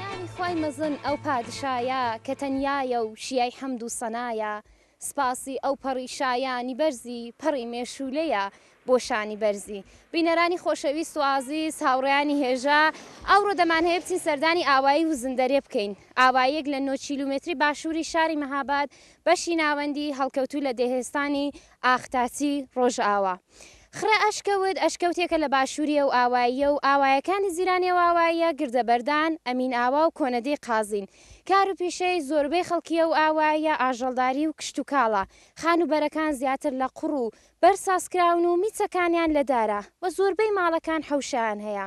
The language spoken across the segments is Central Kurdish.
ناوی خوای مەزن ئەو پادشایە کە تەنیایە و شیای حەمد و سەنایە سپاسی ئەو پەڕی شایانی بەرزی پەڕی مێشوولەیە بۆ شانی بەرزی بینەرانی خۆشەویست و ئازیز هاوڕێیانی هێژا ئەوڕۆ دەمان هەیە بچین سەردانی ئاوایی وزندەرێ بکەین ئاواییەک لە نۆ کیلومێتری باشووری شاری مەهاباد بەشی ناوەندی هەڵکەوتوو لە دێهێستانی ئاختاسی ڕۆژئاوا خڕە ئەشکەوت ئەشکەوتێکە لە باشووری ئەو ئاواییە و ئاوایەکانی زیرانی ئەو ئاواییە گردە بەردان، ئەمین ئاوا و کۆنەدێی قازین. کار و پیشەی زۆربەی خەڵکی ئەو ئاواییە ئاژەڵداری و کشتوکاڵە. خانووبەرەکان زیاتر لە قوڕ و بەرد سازکراون و میچەکانیان لە دارە و زۆربەی ماڵەکان حەوشەیان هەیە.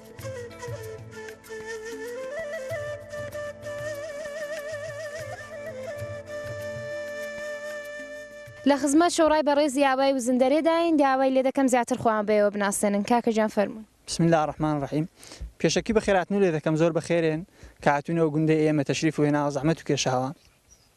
لە خزمەت شۆڕای بەڕێزی ئاوای وزندەرێ داین داوای لێ دەکەم زیاتر خۆیان بەێوە بناسێنن کاکە جان فەرموون. بسم اللە الرحمن الرحیم پێشەکی بەخێراتنو لێ دەکەم زۆر بەخێرێن کە هاتوونەوە گوندەی ئێمە تەشریف و هێناوە زەحمەت و کێشاوە.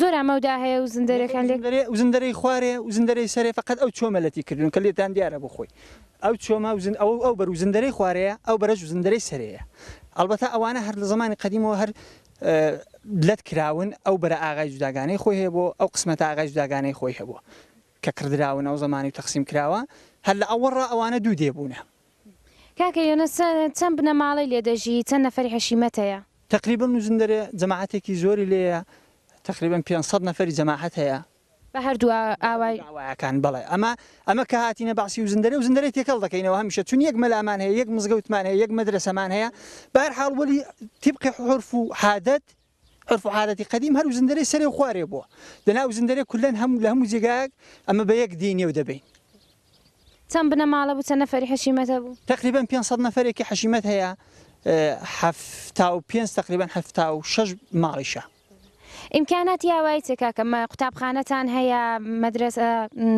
زۆر ئاماو دا هەیە و زندەرێکان لێک. نەخێر ئەو زندەرەی خوارێ و زندەرەی سەرێ فەقەت ئەو چۆمە لەتی کردوون کە لێتان دیارە بۆ خۆی ئەو چۆمە و زن ئەوە ئەو بەر و زندەرەی خوارێیە ئەو بەرەش و زندەرەی سەرێیە ئەڵبەتە ئەوانە هەر لە زەمانی قەدیمەوە هەر لەت کراون ئەو بەرە ئاغای جوداگانەی خۆی هەیە بۆ ئەو قسمەتە ئاغای جوداگانەی خۆی هەبووە کە کڕدراون ئەو زەمانی و تەقسیم کراوە هەر لە ئەوەڕا ئەوانە دوو دێ بوونە. کاکە یۆنس چەند بنەماڵەی لێ دەژی چەند نەفەری حەشیمەت هەیە؟ تەقریبەن نوزندەرێ جەماعەتێکی زۆری لێیە تەقریبەن پێنج سەد نەفەری جەماعەت هەیە. بە هەردوو ئاوای. ئاوایەکان بەڵێ ئەمە ئەمە کە هاتینە بەعسی وزندەرێ وزندەرێ تێکەڵ دەکەینەوە هەمیشە چون یەک مەلامان هەیە یەک مزگەوتمان هەیە یەک مەدرەسەمان هەیە بە هەر حاڵ وەلی تیبقی حورف و حادەت عورف و عادەتی قەدیم هەر وزندەرەی سەرێ و خوارێ بووە. دەنا وزندەرەی کولەن هەموو لە هەموو جێگایەک ئەمە بە یەک دێین و دەبەین. چەند بنەماڵە بوو؟ چەند نەفەری حەشیمەت هەبوو؟ تەقریبەن پێنج سەد نەفەرێکی حەشیمەت هەیە، حەفتا و پێنج تەقریبەن حەفتا و شەش ماڵیشە. ئیمکاناتی ئاوایی چیە کاکە؟ قوتابخانەتان هەیە؟ مەدرەسە،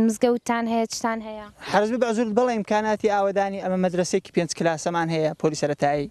مزگەوتتان هەیە؟ چتان هەیە؟ حەرەز بە بەعزورت بەڵێ ئیمکاناتی ئاوەدانی ئەمە مەدرەسەیەکی پێنج کلاسەمان هەیە پۆلی سەرەتایی.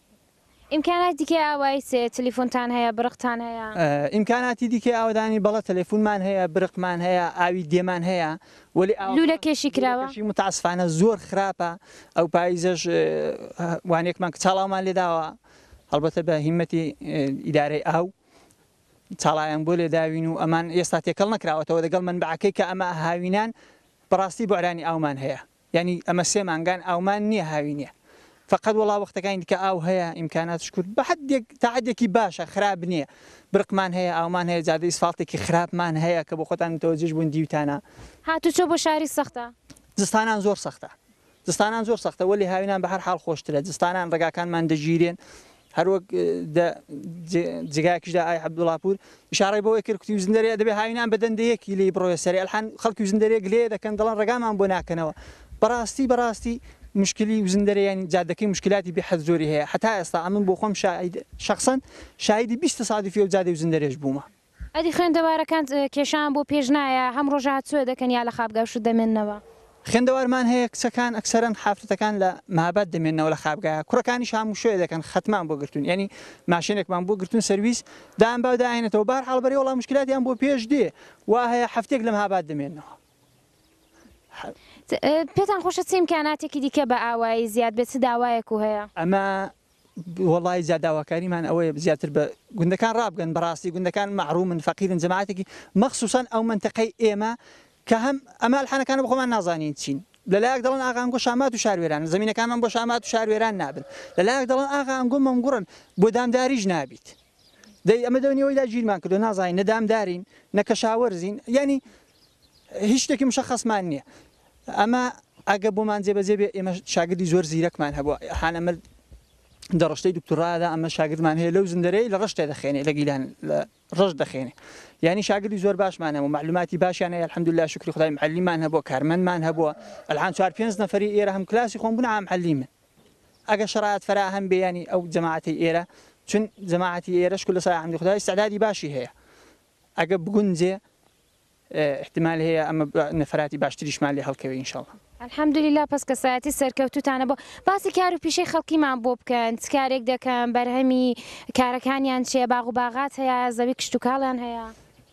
ئیمکاناتی دیکەی ئاوایی چ تلیفونتان هەیە برقتان هەیە؟ ئیمکاناتی دیکەی ئاوەدانی بەڵێ تەلەفونمان هەیە برقمان هەیە ئاوی دێمان هەیە وەلی ئاوەکە لولە کێشی کراوە؟ لولە کێشی متاسفانە زۆر خراپە ئەو پایزەش وانەیەکمان کە چاڵاومان لێ داوە هەڵبەتە بە هیمەتی ئیدارەی ئاو چاڵایان بۆ لێ داوین و ئەمان ئێستا تێکەڵ نەکراوەتەوە دەگەڵ مەنبەعەکەی کە ئەمە هاوینان بەڕاستی بوعرانی ئاومان هەیە. یانی ئەمە سێ مانگان ئاومان نیە هاوینیە فەقەت وەڵا وەختەکانی دیکە ئاو هەیە ئیمکاناتش کورت بە حەدێک تا حەدێکی باشە خراپ نیە برقمان هەیە ئاومان هەیە جادەی ئیسفاڵتێکی خراپمان هەیە کە بۆ خۆتان متەوەجیش بوون دیوتانە. هاتوچۆ بۆ شاری سەختە؟ زستانان زۆر سەختە زستانان زۆر سەختە وەلی هاوینان بەهەر حاڵ خۆشترە زستانان ڕێگاکانمان دەگیرێن هەروەک دە جگایەکیش دا ئای عەبدوڵا پوور ئشارەی بەوەی کرد کوتی وزندەرێ دەبێ هاوینان بە دەندەیەکی لێی بڕۆێ سەرێ ئەلحان خەڵکی وزندەرێ گلەیێ دەکەن دەڵێن ڕێگامان بۆ ناکەنەوە بەڕاستی بەڕاستی مشکلی وزندەرێ یانی جادەکەی مشکلاتی بێ حەد زۆری هەیە حەتا ئێستا ئەمن بۆخۆم شاهید شەخسەن شاهیدی بیست تەسادوفی ئەو جادەی وزندەرێش بوومە ئەدی خوێندەوارەکانت کێشەیان بۆ پێش نایە هەم ڕۆژە هات سوێ دەکەن یا لە خابگا شوت دەمێننەوە؟ خوێندەوارمان هەیە کچەکان ئەکسەرەن حافرەتەکان لە مابات دەمێننەوە لە خابگایە کوڕەکانیش هاموو شوێ دەکەن خەتمان بۆ گرتوون یانی ماشێنێکمان بۆ گرتوون سەرویس دان باو داهێنێتەوە بە هەر حاڵ بەرێ وەڵا موشکیلاتیان بۆ پێش دێ وا هەیە حەفتەیەک لە مهاباد دەمێننەوە. پێتان خۆشە چ ئیمکاناتێکی دیکە بە ئاوایی زیاد بێت چ داوایەکو هەیە؟ ئەمە وەڵایی جا داواکاریمان ئەوەیە زیاتر بە گوندەکان ڕابگەن بەڕاستی گوندەکان مەحڕومن فەقیرن جەماعەتێکی مەخسوسەن ئەو مەنتەقەی ئێمە کە هەم ئەمە ئەلحانەکانە بە خۆمان نازانین چین لە لایەک دەڵێن ئاغا ئەنگۆ شامات و شاروێرانە زەمینەکانمان بۆ شامات و شاروێران نابن لە لایەک دەڵێن ئاغا ئەنگۆ مەمگوڕن بۆ دامداریش نابیت دەی ئەمە دەونی ئەوەی داگیرمان کردو نازانین نە دامدارین نە کەشاوەرزین یانی هیچ شتێکی مشەخەسمان نییە ئەمە ئەگە بۆمان جێبەجێ بێ ئێمە شاگردی زۆر زیرەکمان هەبووە حان ئەمە دە ڕشتەی دکتورادا ئەمە شاگردمان هەیە لەو زندەرەی لە ڕشتێ دەخێنێ لە گیلان لە ڕژ دەخێنێ یعنی شاگردی زۆر باشمان هەبوو معلوماتی باشیان هەیە الحمدلله شکری خدای معلیمان هەبووە کارمەندمان هەبووە الحان چوار پێنج نەفری ئێرە هەم کلاسی خۆم بوون عام حەلیمن ئەگەر شەرایەت فەراهەم بێ یانی ئەو جەماعەتەی ئێرە چون جەماعەتی ئێرەش کولە سای حمدی خودا ئیستعدادی باشی هەیە ئەگە بگونجێ ئیحتیمال هەیە ئەمە نەفراتی باشتریشمان لێ هەڵکەوێ ان شاءاللە. الحمدللە پەس کەسایەتی سەرکەوتوتانە بۆ باسی کار و پیشەی خەڵکیمان بۆ بکەن چ کارێک دەکەن بەرهەمی کارەکانیان چیە باغ و باغات هەیە زەوی کشتوکاڵیان هەیە؟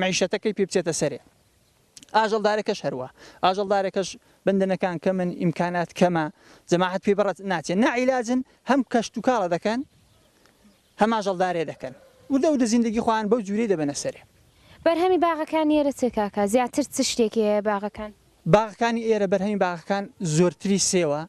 مەعیشەتەکەی پێ بچێتە سەرێ. ئاژەڵدارەکەش هەروا. ئاژەڵدارەکەش بەندەنەکان کەمن، ئیمکانات کەمە، جەماعەت پێی بەڕێ ناچێ. ناعیلاجن هەم کەشتوکاڵە دەکەن، هەم ئاژەڵدارێ دەکەن. وردە وردە زیندەگی خۆیان بەو جوورەی دەبەنە سەرێ. بەرهەمی باغەکانی ئێرە چیە کاکە؟ زیاتر چ شتێکی هەیە باغەکان؟ باغەکانی ئێرە بەرهەمی باغەکان زۆرتری سێوە،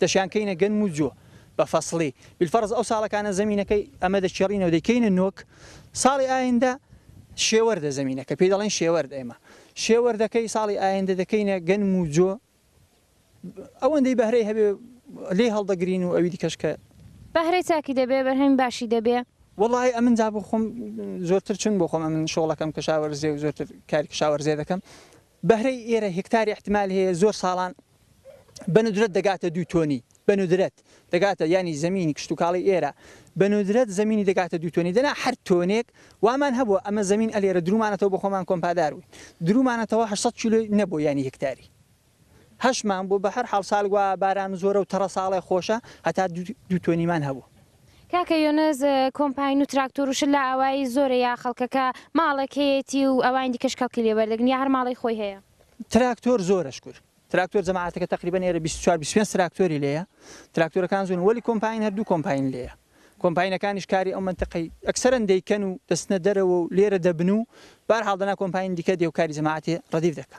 دەشیان کەینە گەنم و جۆ بە فەسڵی، بیلفەڕز ئەو ساڵەکانە زەمینەکەی ئەمە دەکێڕینەوە دەیکەینە نۆک، ساڵی ئایندە شێوەردە زەمینەکە پێی دەڵێن شێوەرد ئێمە شێوەردەکەی ساڵی ئایندە دەکەینە گەنم و جۆ ئەوەندەی بەهرەی هەبێ لێی هەڵدەگرین و ئەوی دیکەش کە بەهرەی چاکی دەبێ بەرهەمی باشی دەبێ. وەڵاهی ئەمن جا بۆ خۆم زۆرتر چون بۆ خۆم ئەمن شۆڵەکەم کشاوەرزێ و زۆرتر کاری کشاوەرزێ دەکەم بەهرەی ئێرە هێکتاری ئیحتمال هەیە زۆر ساڵان بەندرەت دەگاتە دوو تۆنی بەندرەت دەگاتە یانی زەمینی کشتوکاڵی ئێرە بەندرەت زەمینی دەگاتە دوو تۆنی دەنا هەر تۆنێک وامان هەبووە ئەمە زەمین ئەلێرە درومانەتەوە بۆ خۆمان کۆمپادار بووین درومانەتەوە هەشت سەد کیلۆی نەبوو یانی هێکتاری هەشمان بوو بە هەر حاڵ سالگوا باران زۆرە و تەڕە ساڵێ خۆشە هەتا دوو تۆنیمان هەبوو کاکە یونس کۆمپاین و تراکتۆر و شت لە ئاوایی زۆرە یا خەڵکەکە ماڵێک هەیەتی و ئەوانی دیکەش کەڵکی لێ وەردەگرن یا هەر ماڵی خۆی هەیە؟ تراکتۆر زۆرە شکور تراکتۆر جەماعەتەکە تەقریبەن ئێرە بیست و چوار بیست و پێنج تراکتۆری لێیە تراکتۆرەکان زۆرن وەلی کۆمپاین هەر دوو کۆمپاین لێیە کۆمپاینەکانیش کاری ئەو مەنتەقەی ئەکسەرەن دەیکەن و دەچنە دەرەوە و لێرە دەبن و بەهەرحاڵ دەنا کۆمپاین دیکە دێ و کاری جەماعەتی ڕەدیف دەکا.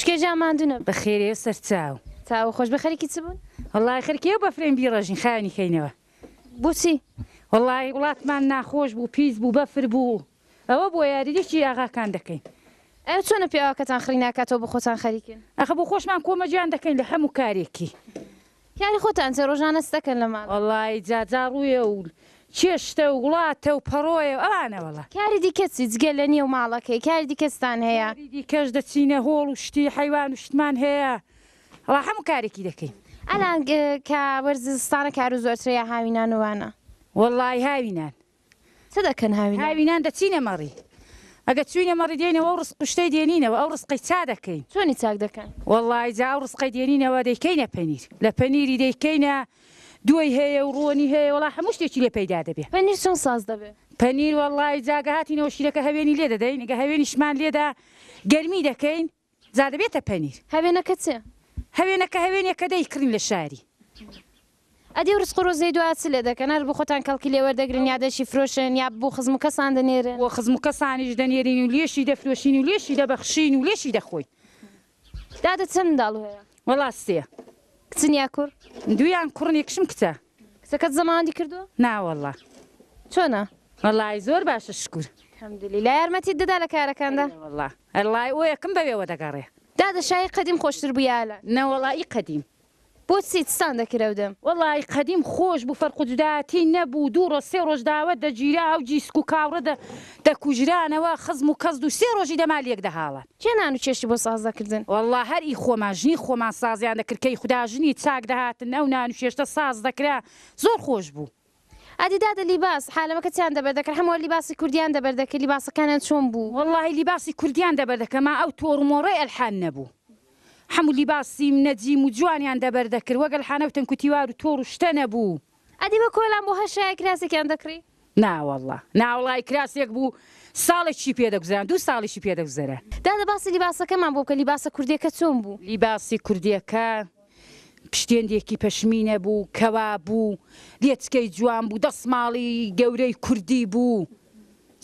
شکێ جا ماندوو نەبن. بەخێرێ و سەرچاو. چاو خۆش بێ خەریکی چ بوون؟ وەڵڵاهی خەریکی ئەو بەفرەین بیڕێژین خاوێنی کەینەوە. بۆچی؟ وەڵڵاهی وڵاتمان ناخۆش بوو پیس بوو بەفر بوو ئەوە بۆ یاریدەکی ئاغاکان دەکەین. ئەوە چۆنە پیاوەکەتان خڕی ناکاتەوە بۆ خۆتان خەریکن؟ ئەخە بۆ خۆشمان کۆمەجان دەکەین لە هەموو کارێکی کاری خۆتان چیە ڕۆژانە ستەکەن لە ماڵێ. وەڵایی جا جا ڕوویە و چێشتە و وڵاتە و پەڕۆیە و ئەوانە وەڵا. کاری دیکە چی جگە لە نێو ماڵەکەی کاری دیکە چتان هەیە؟ کاری دیکەش دەچینە هۆڵ و شتی حەیوان و شتمان هەیە وەڵا هەموو کارێکی دەکەین. ئەلان کە وەرزی زستانە کارو زۆرترە یا هاوینان و وانە؟ وەڵایی هاوینان چ دەکەن هاوینان؟ هاوینان دەچینە مەڕی. ئەگەر چووینە مەڕی دێینەوە و ڕزق و شتەی دێنینەوە، ئەو ڕزقەی چا دەکەین؟ چۆنی چاک دەکەن؟ وەڵڵاهی جا ئەو ڕزقەی دێنینەوە دەیکەینە پەنیر، لە پەنیری دەیکەینە، دووەی هەیە و ڕۆنی هەیە، وەڵڵاهی هەموو شتێکی لێ پەیدا دەبێ. پەنیر چۆن ساز دەبێ؟ پەنیر وەڵڵاهی جا گە هاتینەوە شیرەکە هەوێنی لێ دەدەین، گە هەوێنیشمان لێدا گەرمی دەکەین، جا دەبێتە پەنیر. هەوێنەکە چ؟ هەوێنەکە هەوێنێکە دەی کڕین لە شاری. ئەدی و رزق و رۆزەی دوا چ لێ دەکەن؟ هەر بۆ خۆتان کەڵکی لێ وەردەگرن یا دەشی فرۆشن یا بۆ خزم و کەسان دەنێرن؟ بۆ خزم و کەسانیش دەنێرین و لێشی دەفرۆشین و لێشی دەبەخشین و لێشی دەخۆین. دادە چەند منداڵ هەیە؟ وەڵا سێ. کچن یا کوڕ؟ دوویان کوڕن یەکشم کچە. کچەکەت زەماوەندی کردووە؟ ناوەڵا چۆنە؟ وەڵی زۆر باشە شکور حمدلیلا یارمەتیت دەدا لە کارەکاندا؟ وەڵا ئەڵی ئەوەکم بەوێوە دەگەڕێ. دادە شای قەدیم خۆشتر بوو یا ئەلان؟ نەوەڵا ئی قەدیم. بۆ چی چتان دەکرد ئەو دەم؟ وەڵا ئی قەدیم خۆش بوو فەرق و جودایەتی نەبوو دوو ڕۆژ سێ ڕۆژ داوەت دەگیرا ئەو جیسک و کاوڕە دەکوژرانەوە خزم و کەزد و سێ ڕۆژی دەما لێک دەهاڵان. کێ نان و چێشتی بۆ ساز دەکردن؟ وەڵڵا هەر ئی خۆمان ژنی خۆمان سازیان دەکرد کەی خودا ژنی چاک دەهاتن ئەو نان و چێشتە ساز دەکرا زۆر خۆش بوو. ئەدی دادە لیباس حالەمەکە چیان دەبەر دەکرد حەموە لیباسی کوردیان دەبەر دەکرد لیباسەکانیان چۆن بوو؟ وەڵڵاهی لیباسی کوردیان دەبەر دەکرد ما ئەو تۆڕ و مۆڕەی ئەلحان نەبوو حەموو لیباسی نەجیم و جوانیان دەبەر دەکرد وەک ئەلحانە و تەنکوتیوار و تۆڕ و شتە نەبوو. ئەدی بە کۆلان بۆ هەر شایەک کراسێکیان دەکڕی؟ ناوەڵڵا ناوەڵای کراسێک بوو ساڵێکی پێ دەگوزەران دوو ساڵیشی پێ دەگوزەرا. دادە باسی لیباسەکەمان بۆ بکە لیباسە کوردیەکە چۆن بوو؟ لیباسی کوردیەکە پشتێندێکی پەشمینە بوو کەوا بوو لێچکەی جوان بوو دەسماڵی گەورەی کوردی بوو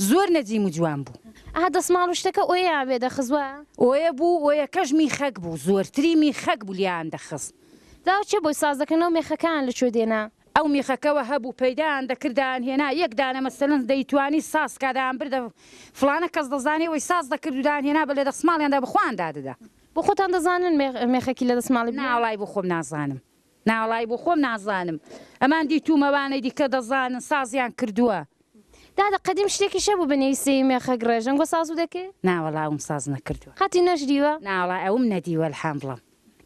زۆر نەجیم و جوان بوو. ئەها دەسماڵ و شتەکە ئۆیەیان وێ دەخست وایە؟ ئۆیە بوو ئۆیەکەش میخەک بوو زۆرتری میخەک بوو لێیان دەخست. دا چ بوی ساز دەکەن ئەو مێخەکەیان لە کوێ دێنا. ئەو میخەکەوە هەبوو پەیدایان دەکرد دایان هێنا یەک دانە مەسەلەن دەیتوانی ساز کا دایان بردە فڵانە کەس دەزانێ وەی ساز دەکرد و دایان هێنا بە لە دەسماڵیاندا بە خۆیان دادەدا. بۆ خۆتان دەزانن مێخەکی لە دەسماڵی بنێن؟ نا وەڵای بۆ خۆم نازانم. نا وەڵای بۆ خۆم نازانم ئەمان دیتووم ئەوانەی دیکە دەزانن سازیان کردووە. دادە قەدیم شتێکیش هەبوو بنێوی سێی مێخەک ڕێژەنگۆ سازو دەکرد؟ نا وەڵا ئەوم ساز نەکردووە. قەتی نەشدیوە؟ نا وەڵای ئەوم نەدیوە الحمدڵم.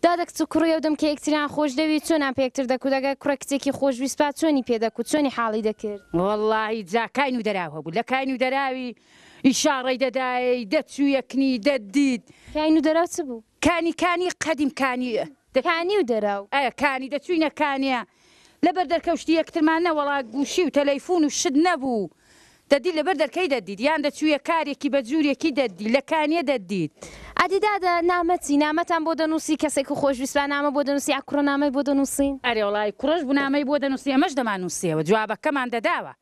دادە کچ و کوڕی ئەودەم کە یەکتریان خۆش دەوی چۆنان پێ یەکتر دەکوت ئەگەر کوڕە کچێکی خۆش ویست با چۆنی پێ دەکوت چۆنی حاڵی دەکرد. وەڵاهی جا کاین و دەراو هەبوو لە کاین و دەراوی ئیشاڕەی دەدایەی دەچوو یەکنی دەتدیت. کاین و دەراو چ بوو؟ کانی کانی قەدیم کانی دەچووینە. کانی و دەراو. ئەە کانی دەچووینە کانێ لەبەر دەرکەوشتی یەکترمان نە وەڵا گوشی و تەلەیفون و شت نەبوو دەدی لەبەر دەرکەی دەدیت یان دەچویە کارێکی بە جورێکی دەدی لە کانیە دەدیت. ئەدی دادە نامە چی نامەتان بۆ دەنوسی کەسێک کو خۆش ویستبا نامە بۆ دەنوسی ئە کوڕە نامەی بۆ دەنوسین. ئەرێ وەڵای کوڕەش بو نامەی بۆ دەنوسی ئەمەش دەمان نوسیەوە جوابە کەمان دەداوە.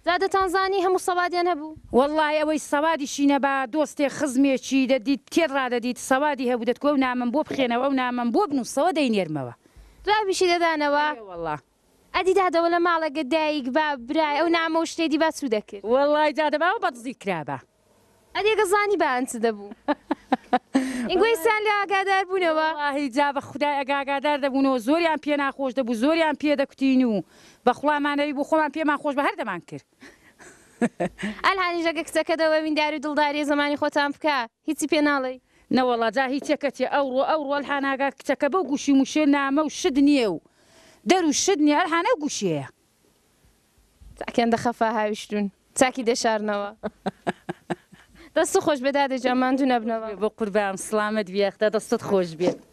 دادەتان زانی هەموو سەوادیان هەبوو. وەڵای ئەوەی سەوادیشی نەبا دۆستێک خزمێکی دەدیت تێر ڕادەدیت سەوادی هەبوو دەتگۆو نامەم بۆ بخێنەوە ئەو نامەم بۆ بنوسەوە دەینێرمەوە. جوابیشی دەدانەوە. بەڵێ وەڵا. ئەدی دادەوە لە ماڵە گە دایک باب برای ئەو نامە و شتێ دی با چوو دەکرد. وەڵای دادە باوە بە دزی کرابا. ئەدی گە زانی با ئەن چ دە بوو. ئین گوی سان لێ ئاگادار بوونەوە. وەڵاهی جا بە خودای ئەگە ئاگادار دە بوونەوە زۆریان پێ ناخۆش دە بوو زۆریان پێ دە کوتین و بە خوڵا مان ئەوی بۆ خۆمان پێمان خۆش بە هەر دەمان کرد. ئەلهانیش ئەگە کچەکە دە وە ویندار و دڵداریە زە مانی خۆتان بکە. هیچی پێ ناڵێی؟ نەوەڵا جا هی چێ کەچێ ئەوڕۆ ئەوڕۆ ئەلحا ناگا کچەکە بەو گوشی موشێ نامە و شت نیە و دەر و شت نیە ئەلحا نەو گوشیەیە. چاکیان دەخەفا هاویشتون چاکی دەشارنەوە دەستت خۆشبێت دادە گیان ماندوو نەبنەوە. بەقوربان سڵامەت بی یاخدا دەستت خۆشبێت.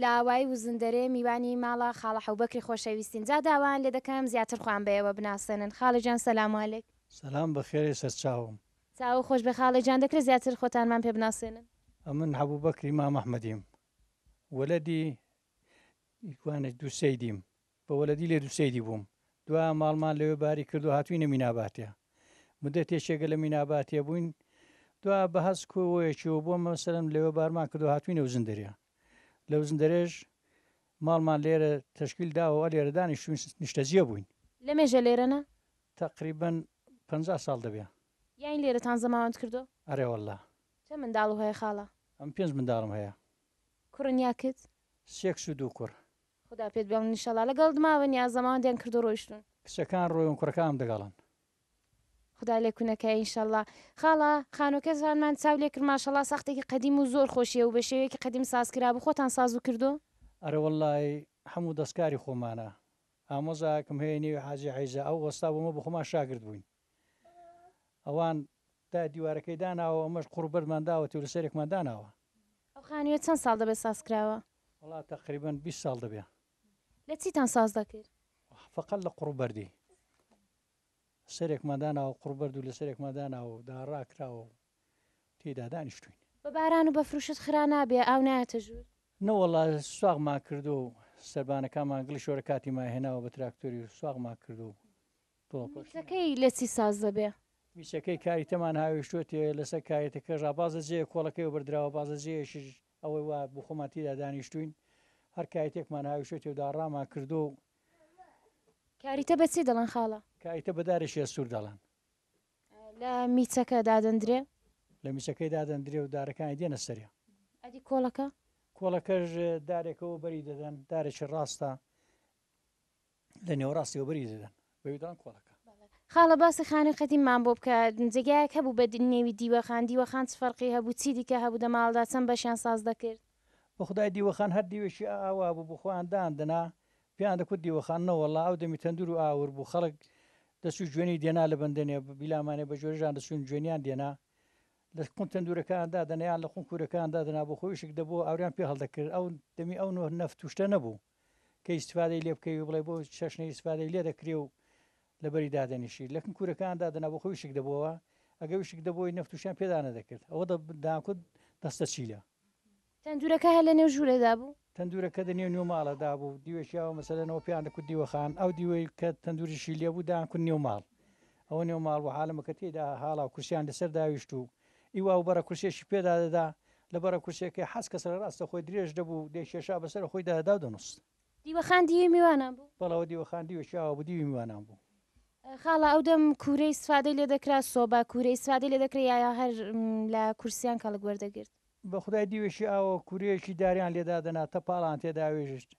لە ئاوایی وزندەرێ میوانی ماڵە خاڵە حەوبەکری خۆشەویستین جا داوایان لێ دەکەم زیاتر خۆیان بە ئێوە بناسێنن خاڵە گیان سەلام علیک. سەلام بەخێرێ سەرچاوم. چاوو خۆش بێ خاڵە گیان دەکرێ زیاتر خۆتانمان پێ بناسێنن. ئەمن حەبوو بەکری مام ئەحمەدیم وەلەدی ی کوانێ دوو سەیدیم. بە وەلەدی لێ دوسەیری بووم دوایە ماڵمان لەوێ باری کردو هاتووینە میناباتێ مودەتێکێکە لە میناباتێ بووین دوایە بە هەز کۆ وەیەکیوە بۆ مەسەلەن لەوێ بارمان کردو هاتووینە وزندەرێ لە وزندەرێش ماڵمان لێرە تەشکیل داوە لێرە دانیشتووین نیشتەجێ بووین. لە مێژە لێرە نە؟ تەقریبەن پەنجا ساڵ دەبێ. یانی لێرەتان زەماوەند کردووە؟ ئەرێ وەللە. چەند منداڵو هەیە خاڵە؟ ئەم پێنج منداڵم هەیە. کوڕن یاکت؟ سێ کچ و دوو کوڕ. خودا پێت بێڵن ئیشەڵا. لەگەڵت ماون یا زەماوەندیان کردو ڕۆیشتون. کچەکان ڕۆیون کوڕەکانم دەگەڵن. خودا لێکو نەکایە ئینشەڵا. خاڵە خانوەکەتانمان چاو لێ کرد ماشەڵا ساختێکی قەدیم و زۆر خۆشیە و بە شێوەیەکی قەدیم ساز کرابوو خۆتان سازو کردوە؟ ئەرە وەڵای هەموو دەستکاری خۆمانە ئامۆزایەکم هەیە نێوی حاجی عیزە ئەو وەستا بۆمە بەخۆمان شاگرد بووین. ئەوان تا دیوارەکەی داناوە ئەمەش قوڕ بەردمان داوەتی و لە سەرێکمان داناوە. ئەو خانوویە چەند ساڵ دەبێت ساز کراوە؟ وەڵا تەقریبەن بیست ساڵ دەبێ. لە چیتان ساز دەکرد؟ فەقەت لە قوڕ و بەردی. سەرێکمان داناوە قوڕ بەرد و لە سەرێکمان داناوە و داڕا کراوە و تێیدا دانیشتووین. بە باران و بەفر و شت خرا نابێ؟ ئاو نایەتە ژوور؟ نەوەڵا سواغمان کردووە و سەربانەکانمان گڵی شۆرە کاتی مایهێناوە بە تراکتۆری و سواغمان کردووە و میترەکەی لە چی ساز دەبێ؟ میچەکەی کاری تەمان هاویشتووەتێ لەسەر کایەتەکە ڕا بازە جێیە کۆڵەکەی وە بردراوە بازە جێیەشیش ئەوەی وا بوو خۆمان تیدا دانیشتووین هەر کایەتێکمان هاویشتووەتێ و داڕامان کردووە و کاریتە بە چی دەڵێن خاڵە؟ کایتە بە دارێکی ئەستوور دەڵێن. لە میچەکە دادەندرێ؟ لە میچەکەی دادەندرێ و دارەکانی دێنە سەرێ. ئەدی کۆڵەکە؟ کۆڵەکەش دارێکەوە بەری دەدەن دارێکی ڕاستە. لە نێوەڕاستەوە بەری دەدەن بەویدان کۆڵەکە خاڵە باسی خانووی قەدیممان بۆ بکە جێگایەک هەبوو بە نێوی دیوەخان دیوەخان چ فەرقی هەبوو چی دیکە هەبوو دە ماڵدا چەند بەشیان ساز دەکرد بە خدای دیوەخان هەر دیوێکی ئاوا بوو بۆ خۆیان داندنا پێیان دەکوت دیوەخان نەوەڵا ئەو دەمی تەندور و ئاور بوو خەڵک دەچوو جوێنی دێنا لە بەندێنێ بیلامانێ بە جۆرەژان دەچوون جوێنیان دێنا لە قون تەندورەکان دادەنیان لە قون کورەکان دادنا بۆ خۆیشک دەبوو ئاوریان پێ هەڵدەکرد ئەو دەمی ئەو نەفت توشتە نەبوو کە ئیستفادەی لێ بکەوی بڵێ بۆ چەشنە ئیستفادەی لێ دەکرێ و لەبەری دادەنیشی لەکن کورەکان دادەنا بۆ خۆی شک دەبەوە ئەگە وشک دەبۆی نەفتوشیان پێدا نەدەکرد ئەوە داکوت دەستە چیلە تەندورەکە هەر لە نێو ژوورێدا بوو تەندورەکە دە نێو نێو ماڵەدا بوو دیوێکیاوە مەسەلەنەوە پێیان دەکوت دیوەخان ئەو دیوەی کە تەندوریشی لێبوو داکن نێو ماڵ ئەوە نێو ماڵ و حالمەکە تێدا هاڵا و کورسیان لەسەر داویشت و ئیوا و بەڕە کورسیەکی پێدا دەدا، لە بەڕە کورسیەکەی حەز کە سەرە ڕاستە خۆی درێژ دەبوو و دەیکێشا بە سەرە خۆیدا دەدا و دەنووست. دیوەخان دیوی میوانان بوو. بەڵەوە دیوەخان دیوێکی ئاوا بوو دیوی میوانان بوو. خاڵە ئەو دەم کوورەی سفادەی لێ دەکرا، سۆبا کوورەی سفادەی لێ دەکرا یا هەر لە کورسیان کەڵک وەردەگرت. بە خودای دیوێکی ئاوا و کوورەیەکی داریان لێ دادەنا تەپاڵان تێدا وێژشت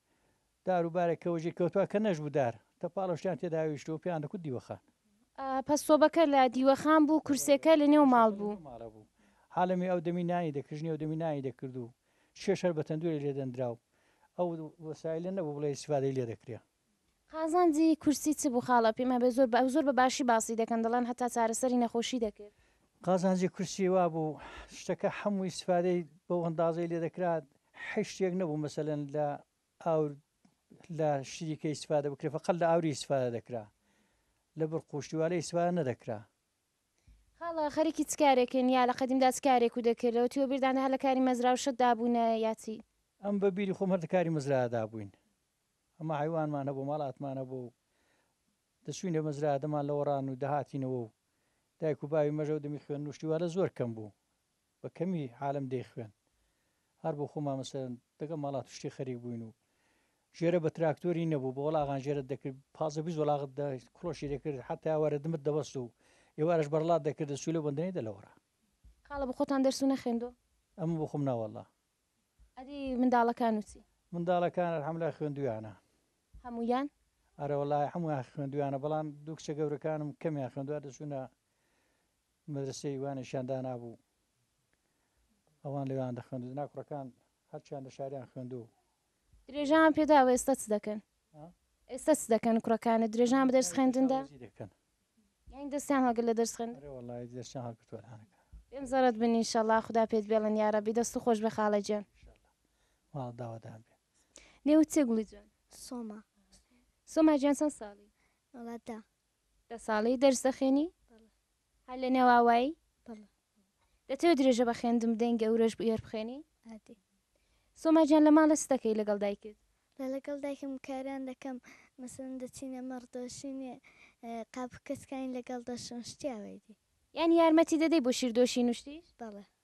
دار و بارێک کە وەجێی کەوتوە کە نەشبوو دار تە پاڵەشتیان تێدا ویشتوە پێیان دەکوت دیوەخان. پەس سۆبەکە لە دیوەخان بوو کورسێکە لە نێو ماڵ بوو. حالەمی ئەو دەمی نانی دەکرد ژنی ئەو دەمی نانی دەکرد و چێژ هەر بە تەندورێ لێ دەندرا و ئەو وەسایلە نەبوو بڵێ ئیستیفادەی لێ دەکرێ. قازانجی کورسی چ بوو خاڵە پێم هەبێ زۆر بە زۆر بە باشی باسی دەکەن دەڵێن هەتا چارەسەری نەخۆشی دەکرد. قازانجی کورسی وا بوو شتەکە حەمووی ئیستیفادەی بەو ئەندازەی لێ دەکرا حیشتێک نەبوو مەسەلەن لە ئاور لە شتیدی کە ئیستفادە بکرێ فەقەت لە ئاوری ئیستفادە دەکرا لە بڕقوشتی والە ئیستفادە نەدەکرا. خاڵە خەریکی چ کارێکن یا لە قەدیمدا چ کارێک و دەکرد لەوەتی وەبیردانت هەر لە کاری مەزراو شت دابوونە یا چی؟ ئەم بە بیری خۆم هەر لە کاری مەزرا دابووین ئەمە حەیوانمان هەبوو ماڵاتمان هەبوو و دەچووینە مەزرا دەمان لەوەڕان و دەهاتینەوە و دایک و باوی مەژە و دەمی خوێن نوشتی والە زۆر کەم بوو بە کەمی عالم دەیخوێن هەر بۆ خۆمان مەسەلەن دەگەڵ ماڵات و شتی خەریک بووین و ژێرە بە تراکتۆری نەبوو بە وەڵاغان ژێرت دەکرد پازدە بیست وەڵاغت دا کڵۆشی دەکرد حەتا وەرە دمت دەبەست و ئێوارەش بەرڵات دەکردە سوولە و بەندەنەی دە لەوەڕا. خاڵە بە خۆتان دەرس و نەخوێندووە؟ ئەمن بۆ خۆم نا وەڵلا. ئەدی منداڵەکان و چی؟ منداڵەکان الحمدللە خوێندوویانە. هەموویان؟ ئەرە وەڵاهی هەموویان خوێندوویانە بەڵام دوو کچە گەورەکانم کەمیان خوێندووە دەچوونە مەدرەسەی وانەشیان دانابوو ئەوان لەوێیان دەخوێند و دەنا کوڕەکان هەرچیان لە شاریان خوێند و درێژەان پێداوە ئێستا چ دەکەن؟ ئێستا چ دەکەن کوڕەکانت درێژان بە دەرس خوێندندا؟ وەزی دەکەن یانی دەستیان هەڵگرت لە دەرس خوێندن؟ ئەرێ وەڵڵاهی دەستیان هەڵگرتووە الانەکە بێم زەڕەت بن ان شاءاللە خودا پێت بێڵن یاڕەبی دەست و خۆش بێ خاڵە گیان. ان شاءاللە ماڵ داوادان بێ. نێوت چیە گوڵی جوان؟ سۆما. سۆما گیان چەند ساڵی؟ وەڵا دە. دە ساڵی دەرس دەخوێنی؟ بەڵێ. هەر لە نێو ئاوایی؟ بەڵێ. دەتەوێ درێژە بە خوێندن بدەین گەورەش بووی هەر بخوێنی؟ ئەدی. سۆما گیان لە ماڵێ چ دەکەی لەگەڵ دایکت؟ لە لەگەڵ دایکم کاران دەکەم مەسەلەن دەچینە مەڕ دۆشینێ قاپ و کەسکانی لەگەڵ دەشۆم شتی ئاوای دی. یانی یارمەتی دەدەی بۆ شیر دۆشین و شتیش؟ بەڵێ.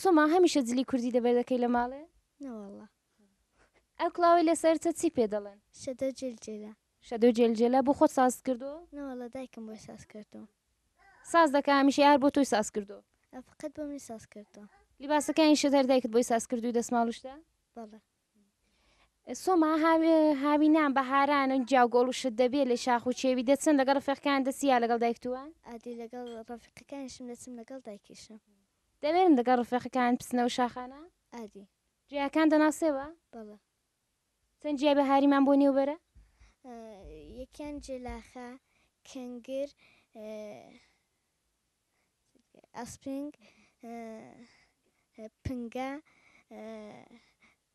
سۆما هەمیشە جلی کوردی دەبەردەکەی لە ماڵێ؟ نەوەڵا ئەو کڵاوی لەسەرتە چی پێ دەڵێن شەدە جلجلە شەدۆ جێلجێلا بۆ خۆت ساز کردو نەوەڵا دایکم بۆی ساز کردو ساز دەکە هەمیشە یار بۆ تۆی ساز کردو ئەفقەت بۆ منی ساز کردو لیباسەکانی شەدەر دایکت بۆی ساز کردوی دەسماڵوشتە بەڵێ سۆما هاوینان بە هاران و جیاو گۆڵ و شت دەبێ لە شاخ و چێوی دەچن لەگەڵ ڕفێقەکان دەسی یا لەگەڵ دایکتووە ئادی لەگەڵ ڕفیقەکانشم دەچم لەگەڵ دایکیشم دەوێرن دەگەڵ ڕفێقەکان بچنەوە شاخانە ئادی جیاکان دەناسێەوە بەڵە چەند جیا بە هاریمان بۆ نێوبەرە یەکیان جێلاخە کەنگر ئاسپرینگ، پنگە،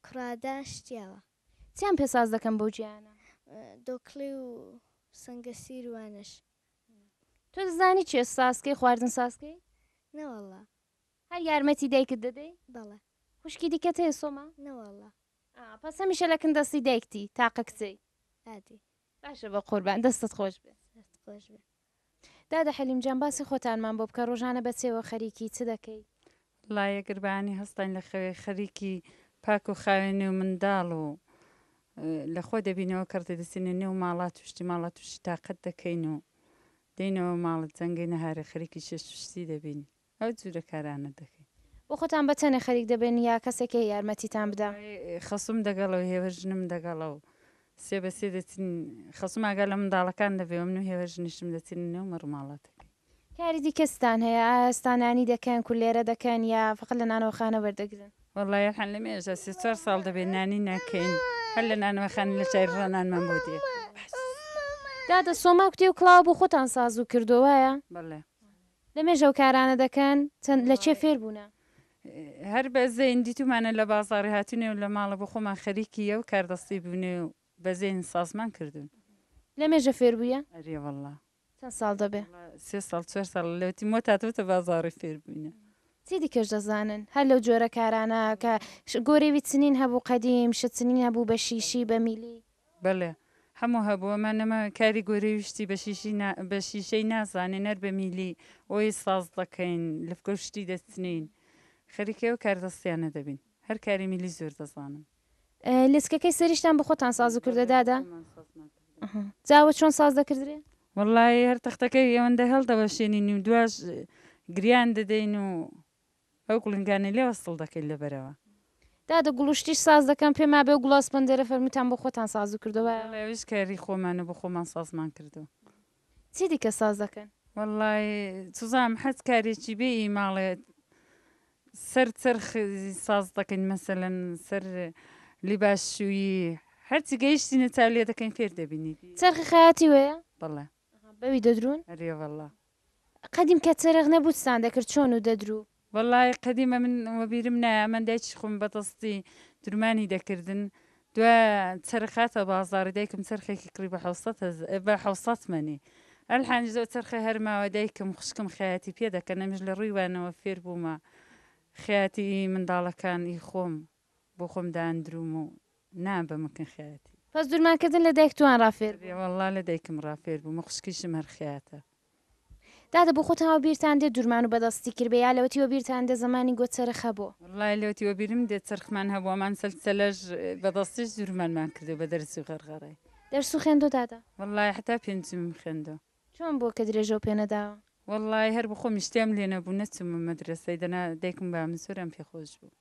کوڕادە، شتیاوە. چیان پێ ساز دەکەن بەو جێیانە؟ دۆکڵی و سەنگەسیر و وانەش. تۆ دەزانی چێ ساز کەی خواردن ساز کەی؟ نەوەڵا. هەر یارمەتی دایکت دەدەی؟ بەڵێ. خوشکی دیکەت هەیە سۆما؟ نەوەڵا. ئا پەس هەمیشە لە کن دەستی دایکتی تاقە کچەی. ئادی. باشە بەقوربان دەستت خۆش بێ. دەست خۆش بێ. دادە حەلیم جان باسی خۆتانمان بۆ بکە ڕۆژانە بە چێوە خەریکی چ دەکەی؟ ڵا یەگر بەانی هەستاین لە خەوێ خەریکی پاک و خاوێنی و منداڵ و لە خۆ دەبینەوە کەڕ دەدەچینە نێو ماڵا توشتی ماڵا توشی تاقەت دەکەین و دەینەوە ماڵ جەنگەی نەهارێ خەریکی شێ شوشتی دەبین. ئەو جورە کارانە دەکەی. بۆ خۆتان بە تەنێ خەریک دەبن یا کەسێکێ یارمەتیتان بدا؟ وەڵای خەسووم دەگەڵە و هێوەژنم دەگەڵە و سێ بە سێ دەچین خەسووم ئاگا لە منداڵەکان دەبێ و من و هێوەژنیشم دەچینە نێو مەڕ و ماڵاتەکەی. کاری دیکە چتان هەیە؟ ئایا ئێستا نانی دەکەن کولێرە دەکەن یا فەقەت لە نانەوەخانە وەردەگرن؟ وەڵای ئێحە لە مێژە سێ چوار ساڵ دەبێ نانی نەکەین هەر لە نانەوەخانە لە شاری ڕا نانمان بۆ دێ بەس. دادە سۆما کوتی و کڵاوە بۆ خۆتان سازو کردوە وایە؟ بەڵێ لەمێژە ئەو کارانە دەکەن؟ چەند، لە کێ فێر بوونە؟ هەر بە زەین دیتوومانە لە بازاڕی هاتوونێ و لە ماڵە بۆ خۆمان خەریکی ئەو کاردەستی بوونێ و بە زەین سازمان کردوون. لەمێژە فێر بوویە؟ ئەرێ وەڵڵا. چەند ساڵ دەبێ؟ وەڵڵا سێ ساڵ چوار ساڵ لە وتی مۆتا تۆتە بازاڕی فێر بووینە. چی دیکەش دەزانن؟ هەر لەو جۆرە کارانە کە گۆرێوی چنین هەبوو قەدیم، شت چنین هەبوو بە شیشی، بە میلی. بەلێ هەموو هەبوو ئەمە نەما کاری گۆرەوی شتی بە شیشی نا بە شیشەی نازانێن هەر بە میلی ئۆی ساز دەکەین لفگە و شتی دەچنین خەریکی ئەو کار دەستیانە دەبین هەر کاری میلی زۆر دەزانن. لسکەکەی سەریشتان بە خۆتان ساز دەکردە بەلێ دادە؟ خۆمان ساز ناکردن. جا ئەوە چۆن ساز دەکردرێ؟ وەڵایی هەر تەختەکەی ئەوەندە هەلدەوەشێنین و دواش گریان دەدەین و ئەو گوڵنگانەی لێ وەسڵ دەکەیت لە بەرەوە. دادە گوڵ و شتیش ساز دەکەم پێم ئابێ ئەو گوڵە ئەسپەندەرە فەرمووتان بۆ خۆتان سازو کردوە؟ بەڵێ ئەویش کاری خۆمانە بۆ خۆمان سازمان کردوە. چی دیکە ساز دەکەن؟ وەڵڵا چزانم حەز کارێکی بێ ی ماڵێ سەر چەرخ ساز دەکەین مەسەلەن سەر لیباس شوویی هەرچی گەیشتینە چاو لێ دەکەین فێر دەبینی. چەرخی خەیاتی وەیە؟ بەڵێ. ئەها بەوی دەدروون؟ ئەرێ وەڵا. قەدیم کە چەرخ نەبوو چتان دەکرد چۆن و دەدرو؟ وەڵای قەدیم ئەمن وەبیرم نایە ئەمن دایکی خۆم بەدەستی درومانی دەکردن دوا چەرخ هاتە بازاڕی دایکم چەرخێکی کڕی بە حەوت سەد هەز بە حەوت سەد مەنی ئەلحەنج ئەو چەرخە هەر ماوە دایکم خوشکم خەیاتی پێ دەکەن ئەمیش لە ڕووی وانەوە فێر بوومە خەیاتی ئی منداڵەکان ئی خۆم بۆ خۆم داندرووم و نان بە مکن خیاتی. پس دورمان کردن لە دایک توان ڕا فێر بوون. واللە لە دایکم ڕا فێر بووم و خوشکیشم هەر خیاتە. دادە بۆ خۆتان وە بیرتان دێ دورمان و بەدەستی کرد بێ یا لەوەتی وە بیرتان دێ زەمانی گۆ چەرخ هەبۆ. واللە لەوەتی وە بیرم دێ چەرخمان هەبۆ ئەمان سەل سەلەش بەدەستیش دورمانمان کردۆ بە دەرس و غەرغەرەی. دەرس و خوێندۆ دادە؟ واللە حەتا پێنجمم خوێندۆ. چۆن بووە کە درێژەو پێ نەداوە؟ واللە هەر بۆ خۆمیش تێم لێ نەبوو نەچوومە مەدرەسەی دەنا دایکم و بابم زۆر یان پێ خۆش بوو.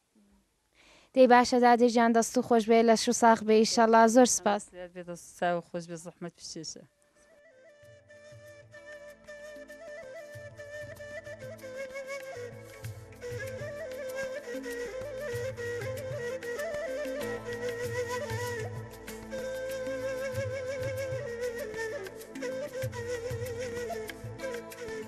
دەی باشە دادە گیان دەست و خۆش بێ لەش و ساخ بێ ئیشەڵا زۆر سپاس چاو خۆش بێ زەحمەت پیسێسە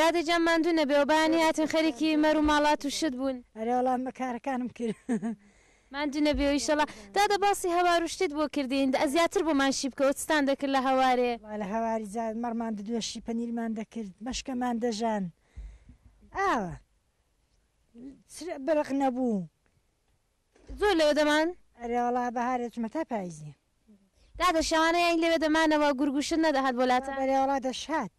دادە جان ماندوو نەبێ و بەیانی هاتن خەریکی مەر و ماڵات و شت بوون ئەرێ وەڵام بە کارەکانم کرد ماندوو نەبێ و ئیشەڵا دادە باسی هەوار و شتت بۆ کردین دە زیاتر بۆمان شی بکەوە چتان دەکرد لە هەوارێ وا لە هەواری جا مەڕمان دەدوەشی پەنیرمان دەکرد مەشکەمان دەژان ئاوە چ بڕق نەبوو زۆر لەوێ دەمان. ئەرێ وەڵا بەهار ئەچمە تا پایزی. دادە شەوانە یانی لەوێ دەمانەوە گورگ وشت نەدەهات بۆ لاتان؟ بەرێ وەڵا دەشهات